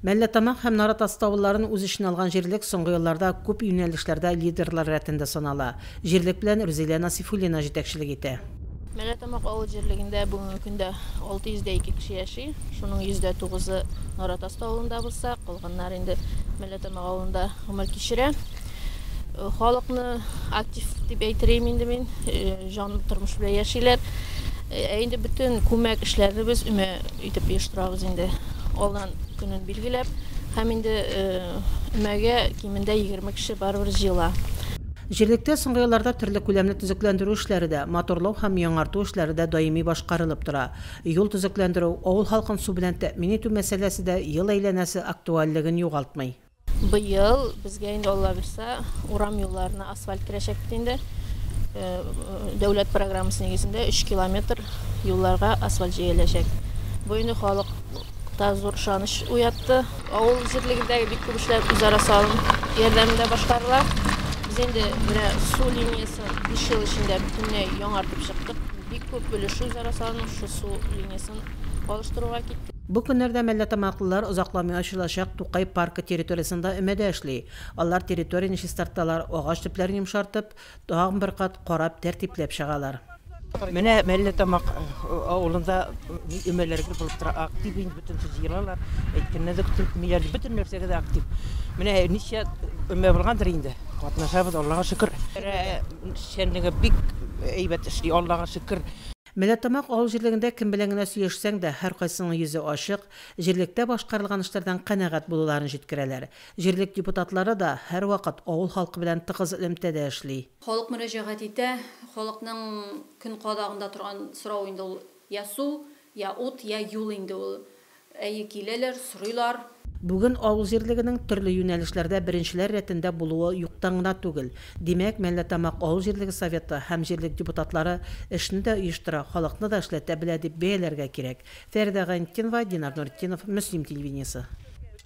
Мәлләтамак һәм Наратасты авылларын үз эченә алган җирлек соңгы елларда күп юнәлешләрдә лидерлар рәтендә санала. Җирлек белән Рүзилә Насыйфуллина җитәкчелек итә. Мәлләтамак авыл җирлегендә бүгенге көндә 602 кеше яши. Шуның 109-ы Наратасты авылында булса, калганнары инде Мәлләтамак авылында гомер кичерә. Халыкны актив дип әйтер идем инде мин, җанлы тормыш белән яшиләр. Ә инде бөтен күмәк эшләребез өмә итеп оештырабыз инде. Алдан көнен билгеләп һәм инде өмәгә кимендә егерме кеше барыбер җыела. Җирлектә соңгы елларда төрле күләмле төзекләндерү эшләре дә, моторлау һәм яңарту эшләре дә даими башкарылып тора. Юл төзекләндерү, авыл халкын су белән тәэмин итү мәсьәләсе дә ел әйләнәсе актуальлеген югалтмый. Быел безгә инде Алла бирса, урам юлларына асфальт керәчәк бит инде. Э, дәүләт программасы нигезендә 3 километр юлларга асфальт җәеләчәк. Бу инде халыкта зур ышаныч уятты. Авыл җирлегендәге бик күп эшләр үзара салым ярдәмендә башкарыла. Без инде менә су линиясын 5 ел эчендә бөтенләй яңартып чыктык. Бик күп өлеше үзара салым шул су линиясын алыштыруга китте. Бу көннәрдә мәлләтамаклылар озакламый ачылачак Тукай паркы территориясендә өмәдә эшли. Алар территорияне чистарталар, агач төпләрен йомшартып, тагын бер кат карап, тәртипләп чыгалар. Менә Мәлләтамак авылында ни өмәләр гел булып тора, актив инде бөтен сүз җыелалар, әйткәннән дә көтелмиләр, бөтен нәрсәгә дә актив. Менә ничә өмә булгандыр инде, катнашабыз, Аллага шөкер. Шәнлеге бик әйбәт эшли, Аллага шөкер. Мәләтамак авыл җирлегендә кем белән генә сөйләшсәң дә, һәркайсының йөзе ачык, җирлектә башкарылган эшләрдән канәгать булуларын җиткерәләр. Җирлек депутатлары да һәрвакыт авыл халкы белән тыгыз элемтәдә эшли. Халык мөрәҗәгать итә, халыкның көн кадагында торган сорау инде ул, я су, я ут, я юл инде ул. Әйе, киләләр, сорыйлар. Бүген авыл җирлегенең төрле юнәлешләрдә беренчеләр рәтендә булуы юктан гына түгел. Димәк, Мәлләтамак авыл җирлеге Советы һәм җирлек депутатлары эшне дә оештыра, халыкны да эшләтә белә дип бәяләргә кирәк. Фәридә Гайнтдинова, Динар Нуретдинов, Мөслим телевидениесе.